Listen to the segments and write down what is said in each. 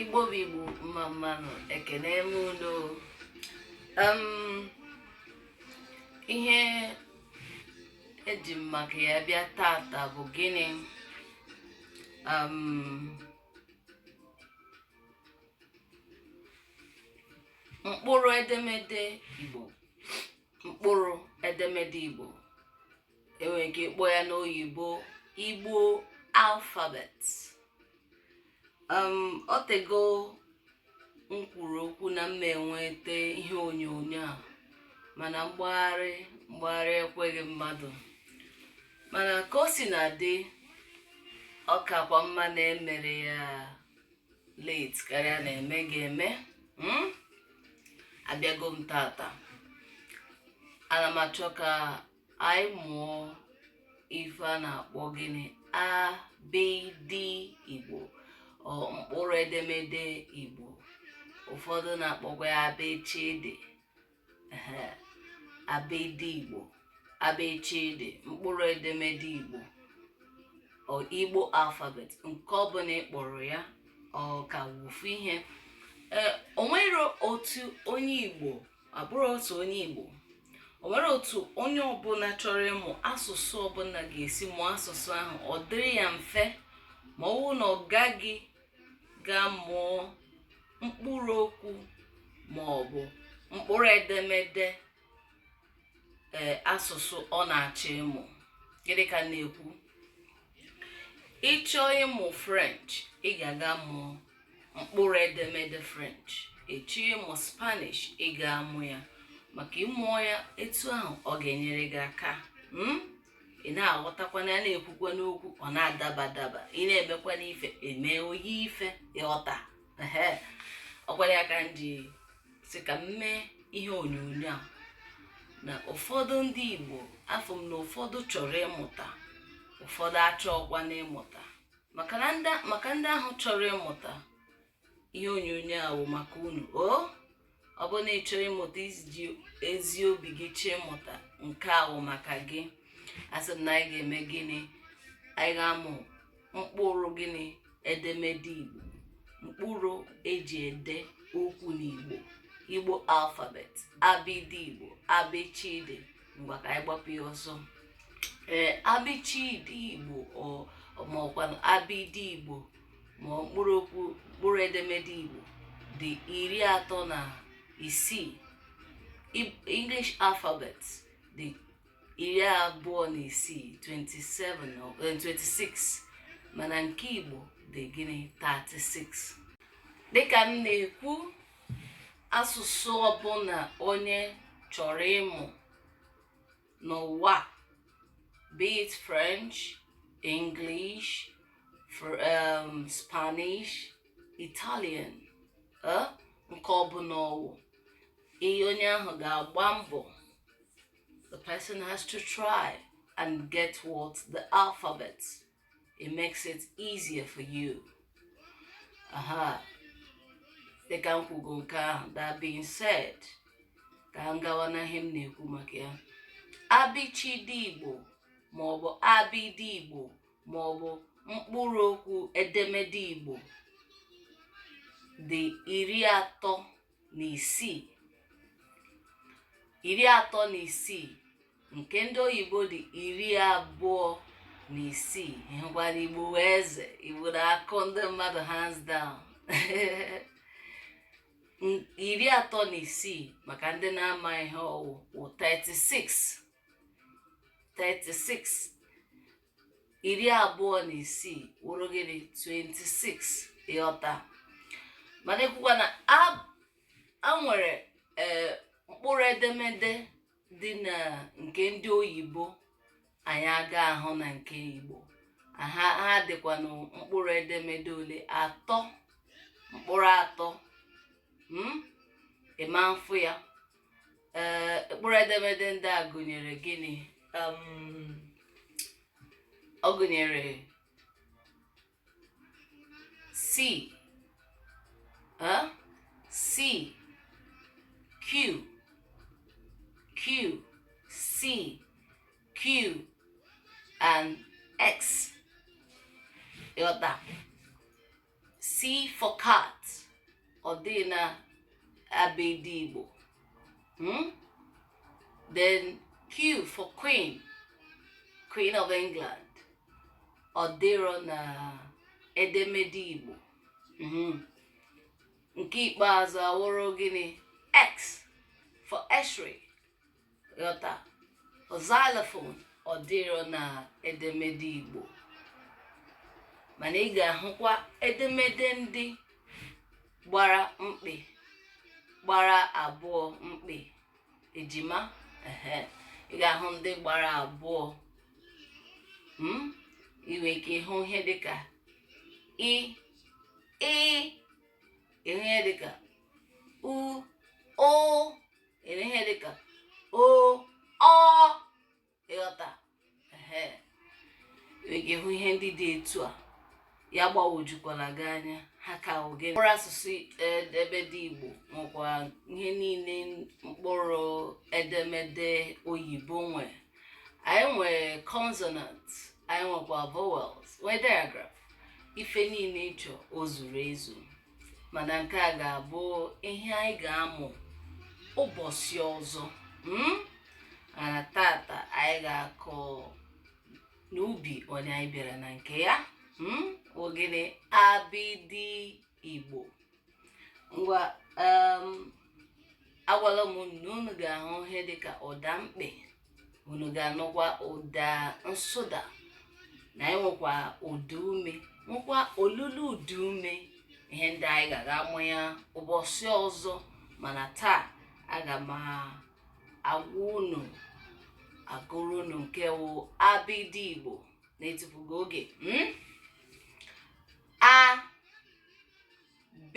Igbo bụ Igbo mma mma nụ ekene m unu ihe eji m maka ya bịa tata bụ gịnị mkpụrụ edemede Igbo mkpụrụ edemede Igbo enwere ike ịkpọ ya n'oyibo igbo alphabet um, o tego m kwuru okwu na m ma eweta ihe onyonyo a mana mgbagharị mgbagharị ekweghị mmadụ mana ka o sina dị ọ kakwa mma na emere ya late karịa na emeghị eme hmm? abịago m tata ana m achọ ka anyị mụọ ife a na-akpọ gịnị abịdị igbo or mkpụrụ edemede igbo ụfọdụ na-akpọkwa ya abechede ehe, abedi igbo abechede mkpụrụ edemede igbo or igbo alphabet nke ọbụla ị kpọrọ ya ọ ka wụ ofu ihe ee o nwere otu onye igbo ọ bụrọ sọ onye Igbo o nwere otu onye ọbụla chọrọ ịmụ asụsụ ọbụla ga-esi mụọ asụsụ ahụ ọ dịrị ya mfe ma ọ bụrụ na ọ gaghị gaa mụọ mkpụrụ okwu ma ọ bụ mkpụrụ edemede ee asụsụ ọ na-achọ ịmụ gịnị ka m na-ekwu ị chọọ ịmụ french ị ga-aga mụọ mkpụrụ edemede french ị chọọ ịmụ spanish ị ga-amụ ya maka ị mụọ ya etu ahụ ọ ga-enyere gị aka mm? ị na-aghọtakwanụ ya na-ekwukwanụ okwu ọ na-adaba adaba ị na-emekwanụ ife ị mee o yie ife ị ghọta ehe ọ kwa ya ka m ji sị ka m mee ihe onyonyo a na ụfọdụ ndị igbo afụ m na ụfọdụ chọrọ ịmụta ụfọdụ achọọkwanụ ịmụta maka ndị ahụ chọrọ ịmụta ihe onyonyo a wụ maka unu o ọ bụ na ị chọrọ ịmụta i ji ezi obi gị chọọ ịmụta nke a wụ maka gị asị m na anyị ga-eme gịnị anyị ga-amụ mkpụrụ gịnị edemede igbo mkpụrụ eji ede okwu n'igbo igbo alphabet abịdị igbo abịchịdị ngwa ka anyị gbapụ ya ọsọ ee abịchịdị igbo ọ- ma ọkwanụ abịdị igbo ma ọ mkpụrụ okwu mkpụrụ edemede igbo dị iri atọ na isii Ib- english alphabet dị iri abụọ na isii 27 ọ- eh, 26 mana nke igbo dị gịnị 36 dịka m na-ekwu asụsụ ọbụla onye chọrọ ịmụ n'ụwa be it French, English, for, um, Spanish, Italian eh, nke ọbụla ọwụ ihe onye ahụ ga-agba mbọ the person has to try and get what the alphabet it makes it easier for you aha dịka m kwugo nke ahụ that being said ka m gawa n'ihe m na-ekwu maka ya abịchịdị igbo maọbụ abịdị igbo maọbụ mkpụrụ okwu edemede igbo dị iri atọ na isii iri atọ na isii nke ndị oyibo dị iri abụọ na isii ị hụkwara igbo wụ eze igbo na-akụ ndị mmadụ hands down iri atọ na isii maka ndị na-ama ihe ọ wụ wụ 36 36 iri abụọ na isii wụrụ gịnị 26 ị ghọta mana ekwukwa na e nwere eh, mkpụrụ edemede dị na nke ndị oyibo anyị aga ahụ na nke igbo ha ha dịkwanụ mkpụrụ edemede ole atọ mkpụrụ atọ hmm? ị ma mfụ ya ee mkpụrụ edemede ndị a gụnyere gịnị um, ọ gụnyere c ah c q q c q and x ị ghọta C for cat. Ọ dịghị na abịdị Igbo. Hmm? Then Q for queen. Queen of England. Ọ dịrọ na edemede Igbo. Hmm. Nke ikpeazụ awụrụ gịnị? X for x-ray. ghọta xylophone ọ dịrọ na edemede igbo mana ị ga-ahụkwa edemede ndị gbara mkpị gbara abụọ mkpị ejima ehe ị ga-ahụ ndị gbara abụọ mm? ị nwere ike ịhụ ihe dịka i ị ịhụ ihe dịka u ụ eme ihe dịka o ọ ị ghọta ị ga-ahụ ihe ndị dị etu a ya gbawojukwala gị anya ha ka oge mkpụrụ asụsụ abịdị igbo nwekwa ihe niile mkpụrụ edemede oyibo nwe anyị nwere consonant anyị nwekwa vowels nwee digraph ife niile ị chọ o zuru ezu mana nke a ga-abụ ihe anyị ga-amụ ụbọsị ọzọ mm? mana taata anyị ga-akọ n'ubi onye anyị bịara na nke ya mm? ọ gịnị abịdị igbo ngwa um, agwala m na unu ga-ahụ ihe dịka ụda mkpị unu ga-anụkwa ụda nsụda na anyị nwekwa ụda ume nwekwa olulu ụda ume ihe ndị a anyị ga-aga amụ ya ụbọsị ọzọ mana taa aga m agwa unu agụrụ unu nke wụ abịdị igbo na-etufughị oge hmm? a b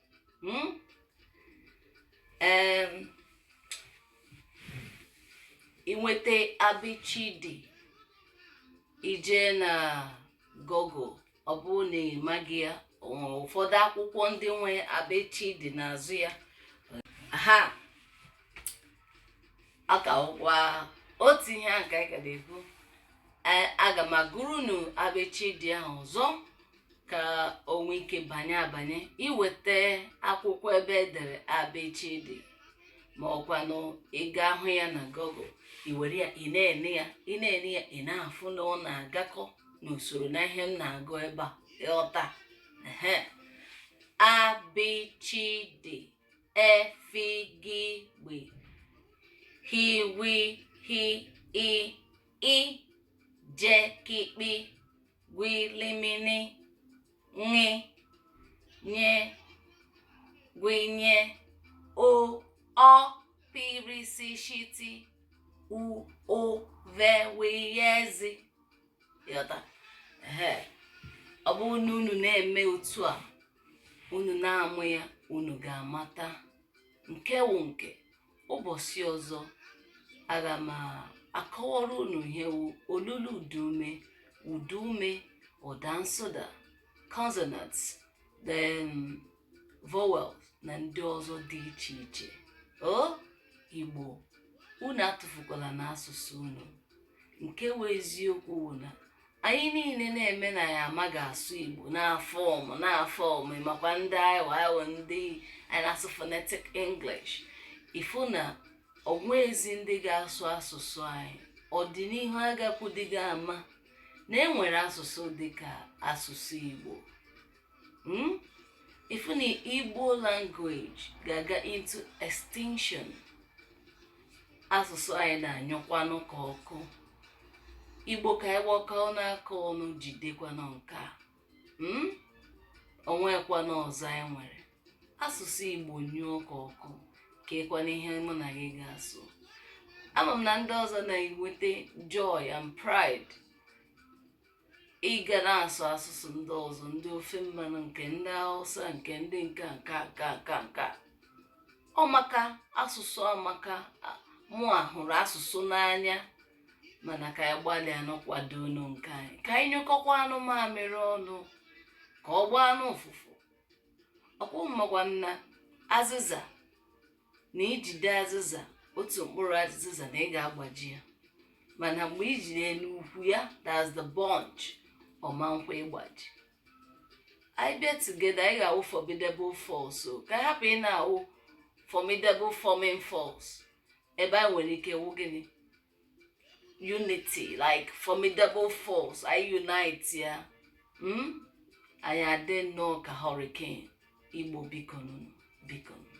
Hmm? Um, i nweta abichidi i je na google ọ bụrụ na ị maghị ya ụfọdụ akwụkwọ ndị nwe abichidi n'azụ ya ha ka wụkwa otu ihe a ka anyị ka na-ekwu aga m agụrụ unu abichidi ahụ ọzọ ka o nwee ike banye abanye i weta akwụkwọ ebe e dere abichidi ma ọkwanụ ị ga-ahụ ya na google i were ya ị na-ene ya ị na-ene ya ị na-afụ na ọ na-agakọ n'usoro na ihe m na-agụ ebe a ị ghọta ehe abichidi efigigbe hiwi hi i ijekikpi kwi limini ṅị nye gwinye o ọ pirisishiti u ụ ve wiyezi ị ghọta ehe ọ bụrụ na unu na-eme otu a unu na-amụ ya unu ga-amata nke wụ nke ụbọchị ọzọ aga m akọwara unu ihe wụ olulu ụdaume ụdaume ụda nsụda consonants then vowel na ndị ọzọ dị iche iche o igbo unu atụfukwalanụ asụsụ unu nke wụ eziokwu wụ na anyị niile na-eme na anyị amaghị asụ igbo na-aform na-aform ị makwa ndị aịwa aịwa ndị a na-asụ phonetic english ị fụ na o nweezi ndị ga-asụ asụsụ anyị ọdịnihu agakwadịghị ama na e nwere asụsụ dịka asụsụ igbo hmm? ị fụ na igbo language ga-aga into extinction asụsụ anyị na-anyụkwanụ ka ọkụ igbo ka anyị gbakọọnụ aka ọnụ jidekwanụ nke a hmm? o nwekwanụ ọzọ anyị nwere asụsụ igbo nyụọ ka ọkụ keekwanụ ihe mụ na gị ga-asụ ama m na ndị ọzọ na-enweta joy and pride ịga na-asụ asụsụ ndị ọzọ ndị ofe mmanụ nke ndị hausa nke ndị nke a, nke a, nke a, nke a, nke a. ọ maka asụsụ amaka a- mụa hụrụ asụsụ n'anya mana ka anyị gbalịanụ kwadoonụ nke anyị ka anyị nyụkọkwaanụ mamịrị ọnụ ka ọ gbaanụ ụfụfụ ọ kwa unu makwa na azịza na i jide azịza otu mkpụrụ azịza na ị ga-agbaji ya mana mgbe i jiri n'ukwu ya that's the bunch ọ ma nkwe ịgbaji anyị bịa together anyị ga-awụ formidable force o ka a hapụ ịna-awụ formidable forming force ebe anyị nwere ike wụ gịnị unity like formidable force anyị unitea mm? anyị adị nnọọ ka hurricane igbo bikonụnụ bikonụnụ